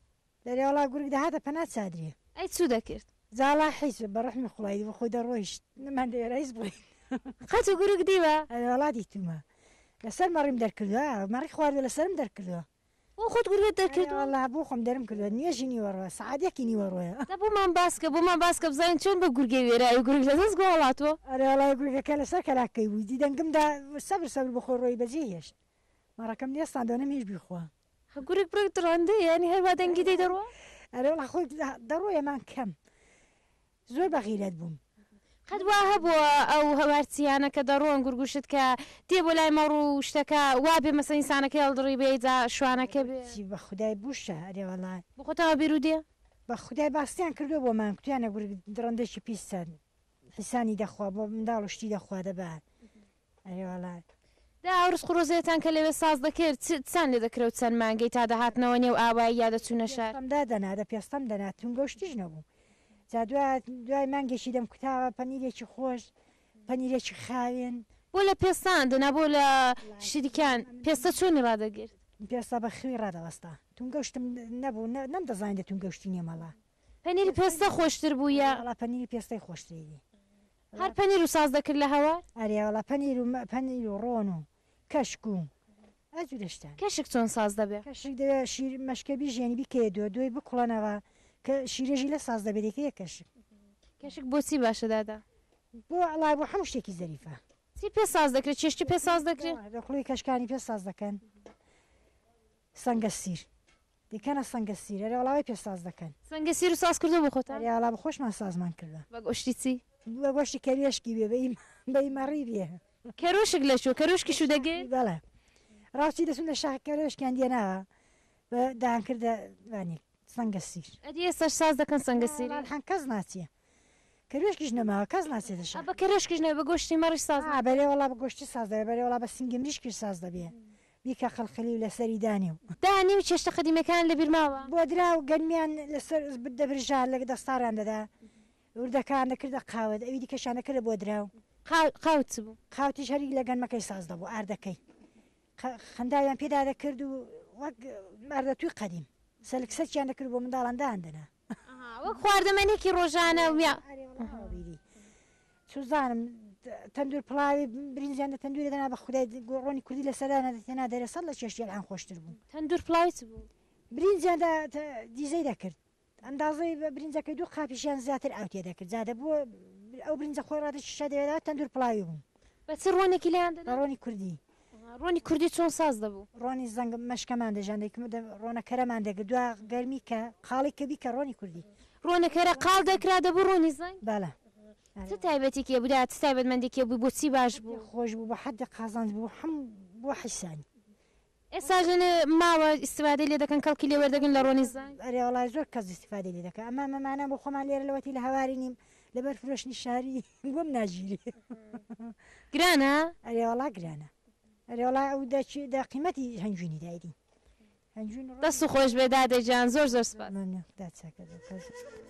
بەرێ وەڵا گورگ دەهاتە پەنا چادریێ. ئەی چو دەکرد؟ زاڵا حیز بە ڕەحمی خوڵای بە خۆی دەڕۆیشت نەمان دەوێرا هیچ بڵێین. قەتو گورگ دیوە؟ ئەرێ وەڵا دیتوومە لەسەر مەڕیم دەرکردوە مەڕی خواردوە لەسەرم دەرکردوە. بۆ خۆت گورگەت دەرکردووە؟ ئەرێ وەڵا بۆ خۆم دەرم کردووە نوێژی نیوەڕۆ سەعات یەکی نیوەڕۆیە. دە بۆمان باسکە بۆمان باسکە بزانین چۆن بە گورگێ وێرای و گورگ لە دەست گوڵ هاتووە. ئەرێ وەڵا گورگەکە لەسەر کەلاککەی بوو دی دەنگم دا سەبر سەبر بە خۆی ڕۆیی بەجێ هێشت مەڕەکەم نێستاند و نەمهێشت بیخوا. هە گورگ بڕێک دڕەندەیە یانی هەر وا دەنگی دەی دەڕوا؟ ئەرێ وەڵا خۆی دەڕۆیە مان کەم زۆر بە غیرەت بووم. قەت وا هەبووە ئەو هەوارچیانە کە دەڕۆن گورگوشت کە دێ بۆ لای مەڕ و شتەکە وا بێ مەسەن ئینسانەکەی هەڵدڕی بێ جا شوانەکە بێ. چی بە خودای بوشە ئەرێ وەڵا. بە خۆتەوە بیرو دێ. بە خودای باستیان کردوە بۆ مان کوتیانە گورگ دڕندەکی پیس چەند حیسانی دەخوا بۆ منداڵ و شتی دەخوا دەبا ئەرێ وەڵای. دە ئەو ڕزق و ڕۆزیەتان کە لەوێ ساز دەکرد چ چتان لێ دەکرد و چەند مانگەی تا دەهاتنەوە نێو ئاوایی یا دەچوونە شار؟ پێستەم دادەنا، دە پێستەم دەنا، تونگە و شتیش نەبوو. جا دوا دوای مانگێکی دەمکوتاوە، پەنیرێکی خۆش، پەنیرێکی خاوێن. بۆ لە پێستان دەنا بۆ لە شریکان، پێستە چۆنی ڕادەگرت؟ پێستە بە خوی ڕادەوەستا. تونگە و شتم نەبوو، نە نەمدەزانی دە تونگە و شتی نیە مەڵا. پەنیری پێستە خۆشتر بوو یا؟ وەڵا پەنیری پێستەی خۆشتری دی. هەر پەنیر و ساز دەکرد لە هەوار؟ ئەرێ وەڵا پەنیر و پەنیر و ڕۆن و کەشک و ئە جورە شتان. کەشک چۆن ساز دەبێ؟ کەشک دەبێ شیر مەشکە بیژێنی بیکەیە دۆ دۆی بکوڵەنەوە کە شیرەژی لە ساز دەبێ دەیکەیە کەشک. کەشک بۆ چی باشە دادە؟ بۆ ئەڵا بۆ حەموو شتێکی زەریفە. چی پێ ساز دەکرێ چێشتی پێ ساز دەکرێ؟ دەکڵۆی کەشکانی پێ ساز دەکەن سەنگەسیر. دیکەنە سەنگە سیر. ئەرێ وەڵا وای پێ ساز دەکەن. سەنگە سیرت ساز کردووە بۆ خۆتان؟ ئەرێ ئاڵا بۆ خۆشمان سازمان کردووە. بە گۆشتی چی؟ بە گۆشتی کەروێشکی بێ بە ی مەڕی بێ. کەروشک لە کوێ؟ کەروشکی شو دەگێ؟ بەڵێ ڕاوچی دەچوون لە شاخ کەروێشکیان دێناوە بە دان کردە وانی سەنگە سیر. ئەدی ئێستاش ساز دەکەن سەنگە سیری؟ نا وەڵا ئەڵحان کەس ناچێ. کەروێشکیش نەما کەس ناچێتە شار. ئا بە کەروێشکیش نەبێ بە گۆشتی مەڕیش ساز نابێ. ئا بەلێ وەڵا بە گۆشتی ساز دەبێ بەلێ وەڵا بە سنگی مریشکیش ساز دەبێ. بیکە قلقلی و لەسەری دانی و. دانی و چێشتە قەدیمیەکانت لە بیر ماوە؟ بۆدرا و گەنمیان لە سەر دەبرژا لە دەستاڕیان دەدا. وردەکان دەکردە قاوت ئەوی دیکەشیان دەکردە بۆدرا و. قاوت چ بوو؟ قاوتیش هەر لە گەنمەکەی ساز دەبوو ئاردەکەی. خەنداویان پێدا دەکرد و وەک ماردەتووی قەدیم سەلک سەلکیان دەکرد و بۆ منداڵان دایاندەنا. ئەها وەک خواردەمەنێکی ڕۆژانە ویا. ئەرێ وەڵا وا بیری سوزانم. تەندوور پڵاوی برینجیان لە تەندوورێ دەنا بە خودای گۆ ڕۆنی کوردی لەسەر دانا دەتهێنا دەرێ سەد لە چێشتی ئەلحان خۆشتر بوو. تەندوور پڵاوی چ بوو؟ برینجیان دا دیزەی دەکرد. ئەندازەی برینجەکەی دوو قاپیش یان زیاتر ئاو تێدەکرد جا دەبووە ئەو برینجە خۆی ڕادەکی شیشە دەوێدەوە تەندوور پڵاوی بوو. بە چ ڕۆنێکی لێیان دەدا؟ بە ڕۆنی کوردی. ڕۆنی کوردی چۆن ساز دەبوو؟ ڕۆنی زەنگ مەشکەمان دەژان دەیکم ڕۆنە کەرەمان دەگرت دوا گەرمی کە قاڵی کە بیکە ڕۆنی کوردی. ڕۆنە کەرە قاڵ دەکرا دەبوو ڕۆنی زەنگ؟ بەڵێ. چ تایبەتێکی هەبوو دەیان چ تایبەتمەندێکی هەبوو بۆچی باش بوو؟ حەدی خۆش بوو بۆ حەدی قازانج بوو حەم بۆ حیسانی ئێستاش لەلێ ماوە ئیستیفادەی لێ دەکەن کەڵکی لێ وەردەگرن لە ڕۆنی زەنگ؟ ئەرێ وەڵا زۆر کەس ئیستیفادەی لێ دەکەن ئەمە مەمانە بۆ خۆمان لێرە لەوەتی لە هەواری نیم لەبەر فرۆشتنی شاری گوم ناگیری گرانە؟ ئەرێ وەڵا گرانە ئەرێ وەڵا ئەو دە چی دە قیمەتی هەنجوینی دایدی هەنجوین دەست خۆشبێ دادە گیان زۆر زۆر سوپاس. مەمنون داد سەکەت.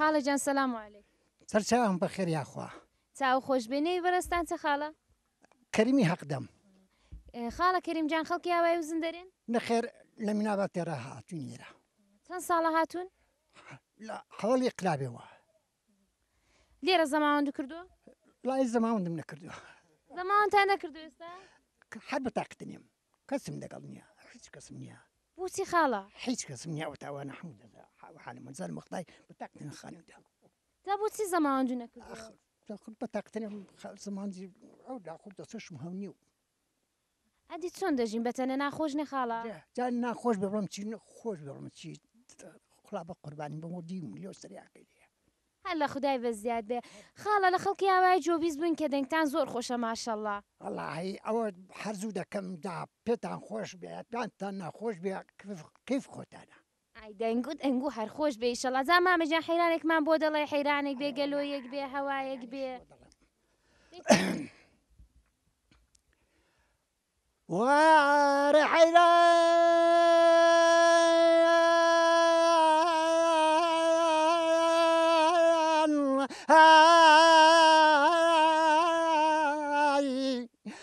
خاڵە جان سلام و علیک. سەرچاوم بەخێر یاخوا. چاو خۆش بێ نێوی بەرەستان چە خاڵە؟ کەریمی هەق دەم. خاڵە کەریم جان خەڵکی ئاوای وزن دەرێن؟ نەخێر لە مینابا تێرا هاتوین ئێرە. چەند ساڵە هاتوون؟ لە هەوەڵی قلابێوە. لێرە زەماوەند کردووە؟ لای زەماوەندم نەکردووە. زەماوەندتان نەکردو ئێستا؟ هەر بە تاقتە نیم کەسم لەگەڵ نییە هیچ کەسم نییە. بۆچی خاڵە؟ هیچ کەسم نییە ئەو تاوانە هەموو دەدا حالە مەزار مەخدای بە تاقتە نەخانەوەدا. تا بۆچی زەماوەند نەکردووە؟ بە تاقتە نیم زەماوەندی ئەو داخود دەسەشم هەم نیو. ئەدی چۆن دەژین بە تەنە ناخۆش نیە خاڵە. جا ناخۆش بێ بڵم چی خۆش بێ بڵم چی خوا بە قوربانی بم و دیو لۆ سریاکەی لێیە. هەر لە خودای بە زیاد بێ. خاڵە لە خەڵکی ئاوای جۆ بیست بووین کە دەنگتان زۆر خۆشە ماشەڵا. وەڵاهی ئەوە حەرزوو دەکەم جا پێتان خۆش بێ یان پێتان ناخۆش بێ کەیف خۆتانە. ئای دەنگ و دەنگو هەر خۆش بێ ئیشەڵا جا مامە گیان حەیرانێکمان بۆ دەڵێ حەیرانێک بێ گەلۆیەک بێ هەوایەک بێ. وار حەیران ئای.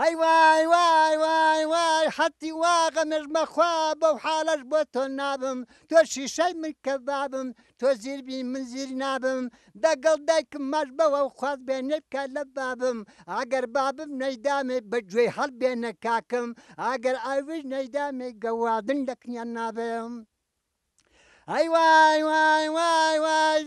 هەی وای وای وای وای حەتی واغە مێژمە خوا بەو حالەش بۆ تۆ نابم تۆ شیشەی من کە بابم تۆ زیربی من زیر نابم دەگەڵ دایکم ماش بەوە و خواز بێنێ بکە لە بابم ئەگەر بابم نەیدامێ بە گوێی هەڵبێنە کاکم ئەگەر ئاویش نەیدامێ گەوادن لە کنیان نابم ئەی وای وای وای وای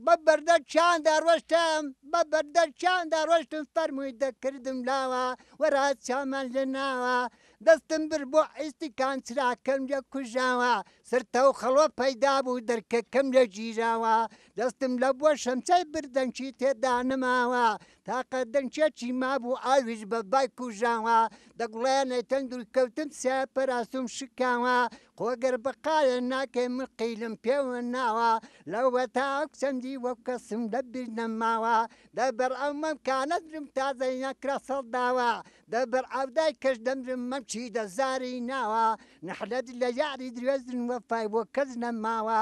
بە بەردە چیان دەڕۆشتم بە بەردە چیان دەڕۆشتم فەرمووی دەکردم لاوە وەرا چامان لێ ناوە دەستم بر بۆ ئیسیکان چراکەم لە کوژاوە سرتە و خەڵۆ پەیدا بوو دەرکەکەم لە گیراوە دەستم لە بۆ شەمچەی بردەنکی تێدا نەماوە تاقە دەنکێکی مابوو ئاویش بە بای کوژاوە دەگوڵێنێ تەن دوور کەوتم سێ پەراسوم شکاوە خۆگەر بەقایە ناکەی من قیلم پێوە ناوە لەوە تا ئەو چەندی وەک کەسم لە بیر نەماوە دەبەر ئەو مەم کانەدرم تازە یەکرا سەڵداوە دەبەر ئەودای کەش دەمرم مەم چی دەزاری ناوە نەحلەت لە یاری درێژن وەفای بۆ کەس نەماوە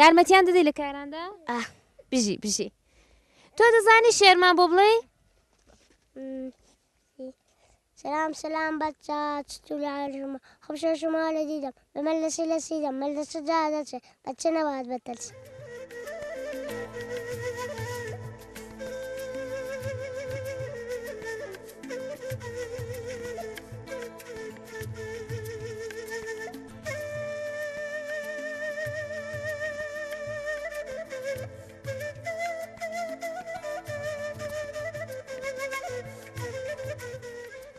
یارمەتیان دەدەی لە کاراندا ئاه بژی بژی تۆ دەزانی شێرمان بۆ بڵێ سلام سلام بچا چتولارژمە خۆشە شما لە دیدەم بەمە لەسی لە سیدەم مە لە سجا دەچێ بەچە نەوات بەتەرس.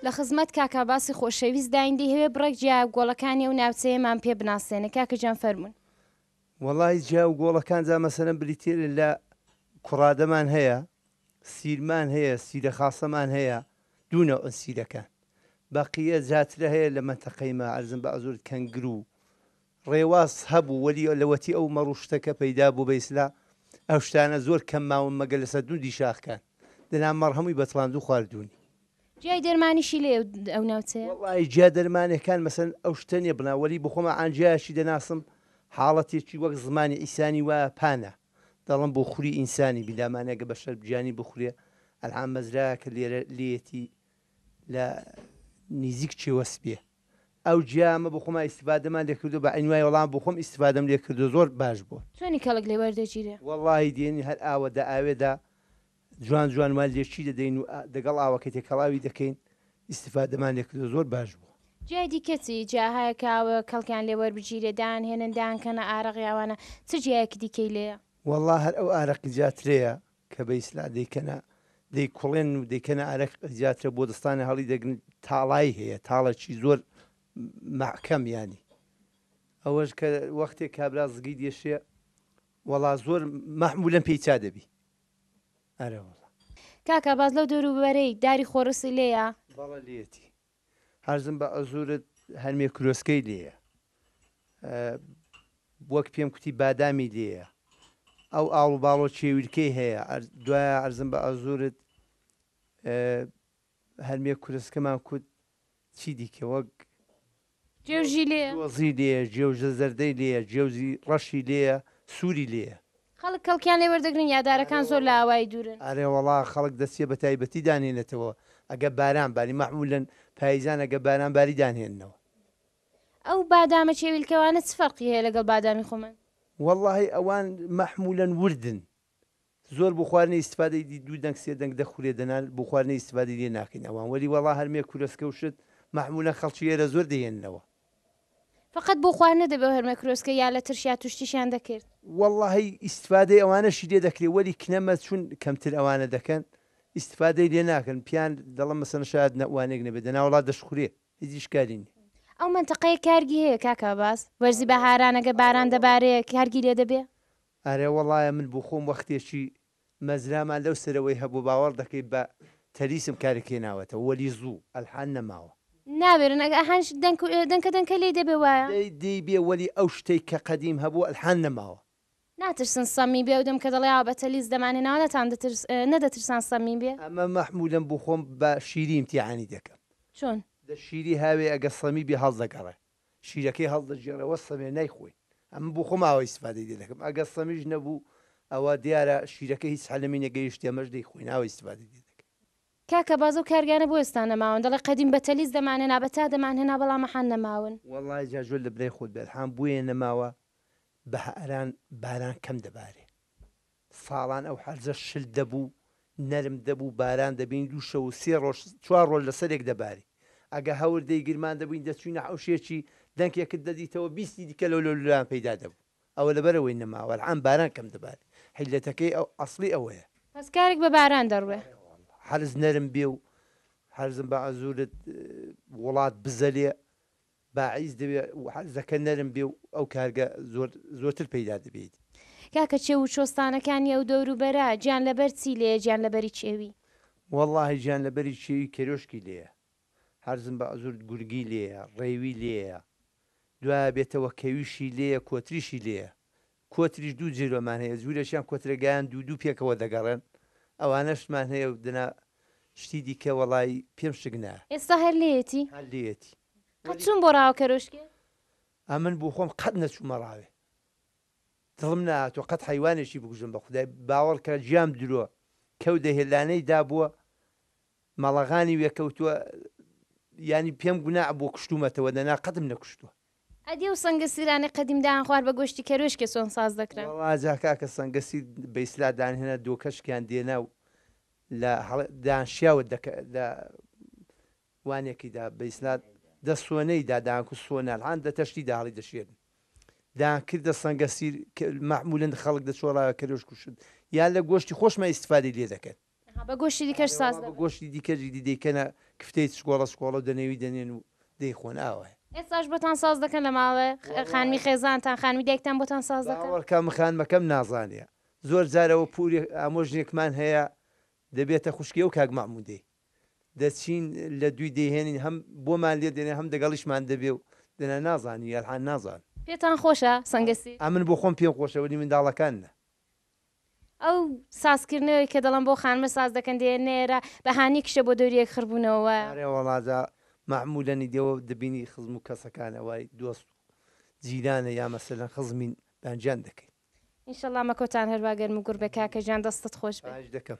لە خزمەت کاک عباسی خۆشەویست داین دەیهەوێ بڕێک جیا و گۆڵەکانی ئەو ناوچەیەمان پێ بناسێنێ کاکە گیان فەرموون وەڵای جیا و گۆڵەکان جا مەسەلەن بریتیە لە کوڕادەمان هەیە سیرمان هەیە سیرە خاسەمان هەیە دوو نەوعن سیرەکان بەقیە زیاترە هەیە لە مەنتەقەی ما عەرزم بە ئەزورت کەنگرو ڕێواس هەبوو وەلی لەوەتی ئەو مەڕو شتەکە پەیدا بوو بەیسلا ئەو شتانە زۆر کەم ماون مەگەر لە سەرتوندی شاخکان دەنا مەڕ هەمووی بەتڵاندو خواردوونی. جیای دەرمانیشی لێ ئەو ناوچەیە؟ وەڵاهی جیا دەرمانەکان مەسەلەن ئەو شتە نیە بڵێم وەلی بۆخۆما عانجایەکی دەناسم حاڵەتێکی وەک زمانی عیسانی وایە پانە دەڵم بۆ خوری ئینسانی بلا مانە گە بەشەر بجانی بخورێ ئەلعام مەزرایە کە لێرە لێتی لە نیزیک چێ وەسبێ ئەو جیامە بۆ خۆما ئیسفادەمان لێکردو بە عینوای وەڵام بۆ خۆم ئیسفادەم لێکردو زۆر باش بووە. چۆنی کەڵک لێ وەردەگیرێ؟ وەڵاهی دێنی هەر ئاوە دە ئاوێ دە جوان جوان مان لێچی دەدەین و دەگەڵ ئاوەکە تێکەڵاوی دەکەین ئیستیفادەمان لێ کردوە زۆر باش بوە. جای دیکە چی جا هەیە کە ئاو کەڵکیان لێ وەربگیرێ دان هێنن دان کەنە ئارەق یاوانە چ جیایەکی دیکەی لێیە؟ وەڵا هەر ئەو ئارەق جاترەیە کە بە ئیسلا دەیکەنە دەی کوڵێنن و دەیکەنە ئارەق جاترە بۆ دەستانە هەڵی دەگرن تاڵای هەیە تاڵە چی زۆر مەحکەم یانی ئەوەش کە وەختێ کابرا زگی دێشێ وەڵا زۆر مەحمولەن پێی چا دەبی ئەرێ وەڵا. کاکە باز لەو دەورو بەرەی داری خۆرسی لێیە؟ بەڵێ لێیەتی هەرزم بە عزورت هەرمێ کرۆسکەی لێیە وەک پێم کوتی بادامی لێیە ئەو ئاڵو باڵۆ چێویلکەی هەیە دوایە عەرزم بە عزورت هەرمێ کورسکەمان کوت چی دیکە وەک جێوژی لێیە. جوزی لێیە، جێوژە زەردەی لێیە، جێوزی ڕەشی لێیە، سووری لێیە. خەڵک کەڵکیان لێ وەردەگرن یا دارەکان زۆر لە ئاوایی دوورن؟ ئەرێوەڵا خەڵک دەچێ بە تایبەتی دانێنێتەوە ئەگە باران باری، مەعموولەن پاییزان ئەگە باران باری دانهێننەوە. ئەو بادامە چێویلکەوانە چ فەرقی هەیە لەگەڵ بادامی خۆمان؟ وەڵاهی ئەوان مەحموولەن وردن زۆر بۆ خواردنی ئیستفادەی دی دوو دەنگ سێ دەنگ دەخورێ دەنال بۆ خواردنی ئیستفادەی لێ ناکەین ئەوان وەلی وەڵا هەرمێ کورەسکە و شت مەحمولەن خەڵکی ئێرە زۆر دەیێننەوە. فەقەت بۆ خواردنە دەبێ و هەرمێ کرۆسکە یا لە ترشیا توشتیشیان دەکرد. وەڵاهی ئیستفادەی ئەوانەشی لێ دەکرێ وەلی کنەمە چون کەمتر ئەوانە دەکەن ئیستفادەی لێ ناکەن پیان دەڵەن مەسەلەن شایەد نە وانێک نەبێ دەنا وەڵا دەشخورێ هیچ ئیشکالی نیە. ئەو مەنتەقەیە کارگی هەیە کاکە عەباس؟ وەرزی بەهاران ئەگەر باران دەبارێ کارگی لێ دەبێ؟ ئەرێ وەڵایە من بوخۆم وەختێکی مەزرامان لەو سەرەوەی هەبوو باوەڕ دەکەی بە تەلیسم کارێک هێناوەتەوە وەلی زوو ئەلحان نەماوە. ناوێرن ئەگە ئەهانیش دەنک دەنکە دەنکە لێی دەبێ وایە. لێی دەیبێ وەلی ئەو شتەی کە قەدیم هەبوو ئەلحان نەماوە. ناترسن سەمی بێ ئەو دەم کە دەڵێ ئاوا بە تەلیس دەمان هێناوە نەتان دەترس نەدەترسان سەمی بێ. ئەمە مەحمولەم بوخۆم بە شیری ئیمتیحانی دەکەم. چۆن؟ دە شیری هاوێ ئەگە سەمی بێ هەڵدەگەڕێ. شیرەکەی هەڵدەگێڕێەوە سەمێ نایخۆین ئەمن بۆ خۆم ئاوا ئیستفادەی لێ دەکەم ئەگەر سەمیش نەبوو ئەوا دیارە شیرەکە هیچ حەلمی نەگەیشت ئەمەش دەیخۆین ئاوا ئیستفادەی لێ دەکەین. کاکە بازە و کارگانە بۆ ئێستا نەماون دەڵێ قەدیم بەتەلیس دەمان هێنا بەتا دەمان هێنا بەڵام ئەحان نەماون. وەڵای جا جۆل لە برای خۆت بێ ئەلحان بۆیە نەماوە بەهئران باران کەم دەبارێ. ساڵان ئەو حەرزە شل دەبوو، نەرم دەبوو، باران دەبینی دوو شەو و سێ ڕۆژ، چوار ڕۆژ لەسەرێک دەباری. ئەگە هەوردەی گرمان دەبووین دەچووینە حەوشێکی، دەنکێکت دەدیتەوە بیستی دیکە لەو لەولولایان پەیدا دەبوو. ئەوە لەبەرئەوەی نەماوە، ئەلعان باران کەم دەباری. حیللەتەکەی ئەو ئەسڵی ئەوەیە. پس کارێک بە باران دەڕوێ. ئەرێ واللە حەرز نەرم بێ و حەرزم بە عەزوورت وڵات بزەلێ، باعیس دەوێ زەکە نەرم بێ و ئەو کارگە زۆر زۆرتر پەیدا دەبێیت. کاکە چێو و چۆستانەکانی ئەو دەور و بەرە جیان لەبەر چی لێیە جیان لەبەری چێوی. وەڵاهی جیان لەبەری چێوی کەرۆشکی لێیە هەرزم بە عزورت گورگی لێیە ڕێوی لێیە دوایە بێتەوە کەویشی لێیە کۆتریشی لێیە کۆتریش دوو جیرۆمان هەیە جورێکیان کۆترە گیان دوو دوو پێکەوە دەگەڕێن ئەوانەشمان هەیە و دەنا شتی دیکە وەڵای پێم شک نایە. ئێستا هەر لێیەتی؟ هەر لێیەتی. قەت چوون بۆ ڕاوە کەرۆشکێ؟ ئەمن بۆ خۆم قەت نەچوومە ڕاوێ دڵم نەهاتووە قەت حەیوانێکی بکوژم بە خودای باوەڕکە گیام درۆ کەو دە هێلانەی دابووە مەڵەغانی وێ کەوتووە یانی پێم گوناح بووە کوشتوومەتەوە دەنا قەتم نەکوشتووە. ئەدی ئەو سەنگە سیرانەی قەدیم دایان خوارد بە گۆشتی کەروێشکێ چۆن ساز دەکران؟ وەڵا جا کاکە سەنگە سیر بە یسلا دان هێنا دۆکەشکیان دێنا و لە هەڵە دان شیاوە دەکە لە وانێکی دا بە یسلا دە سۆنەی دا دان کو سۆنال هان دە تەشتی دا هەڵی دەشێرن دان کردە سەنگە سیر کە مەعمولەن خەڵک دە چۆڵا کەروێشک و شت یان لە گۆشتی خۆشمان ئیستفادەی لێ دەکەن. ئەها بە گۆشتی دیکەش ساز دەبن. ئەرێ وا بە گۆشتی دیکەش ئیدی دەیکەنە کفتەی چکۆڵە چکۆڵە و دەنێوی دەنێن و دەیخۆن ئاوایە. ئێستاش بۆتان ساز دەکەن لە ماڵێ؟ وەڵا. خانمی خێزانتان خانمی دایکتان بۆتان ساز دەکەن؟ باوەڕکە من خانمەکەم نازانێ زۆر جار ئەوە پورێک ئامۆژنێکمان هەیە دەبێتە خوشکی ئەو کاک مەحمودەی دەچین لە دوی دەیهێنین هەم بۆمان لێ دەنێ هەم دەگەڵیشمان دەبێ و دەنا نازانی یالحان نازان. پێتان خۆشە سەنگەسیر؟ ئەمن بۆ خۆم پێم خۆشە وەلی منداڵەکان نا. ئەو سازکردنەوەی کە دەڵێن بۆ خانمە ساز دەکەن دێ نێرە بە هانی کشە بۆ دەوریەک خڕ بوونەوە. ئارێ وەڵا جا مەعمولەن ئیدەوە دەبینی خزم و کەسەکانە وای دۆست و جیرانە یا مەسەلەن خزمین بانگیان دەکەی. ان شاء اللە مەکۆتان هەروا گەرم و گوڕ بێ کاکە گیان دەستت خۆش بێ. خاهیش دەکەم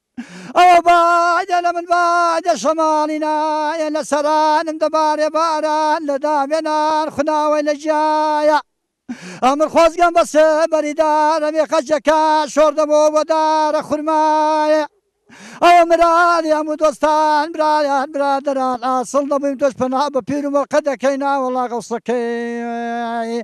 ئەوە بادە لە من بادە شەماڵی نایە لە سەرانم دەبارێ باران لە دامێنان خوناوەی لە جیایە ئەمر خۆزگەم بە سێبەری دارە مێخەجەکە شۆر دەبەوە بۆ دارە خورمایە ئەوە مرالی هەموو دۆستان برایان برادران ئاسڵ دەبووین تۆش پەنا بە پیر و مەڵقە دەکەی ناوەڵا غەوسەکەی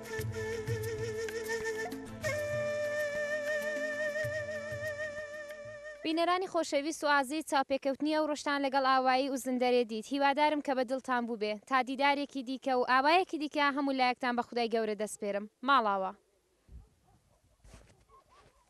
بینەرانی خۆشەویست و ئازیز چاوپێکەوتنی ئەو ڕۆژتان لەگەڵ ئاوایی ئوزندەرێ دیت هیوادارم کە بە دڵتان بووبێ تا دیدارێکی دیکە و ئاوایەکی دیکە هەموو لایەکتان بە خودای گەورە دەسپێرم ماڵاوا.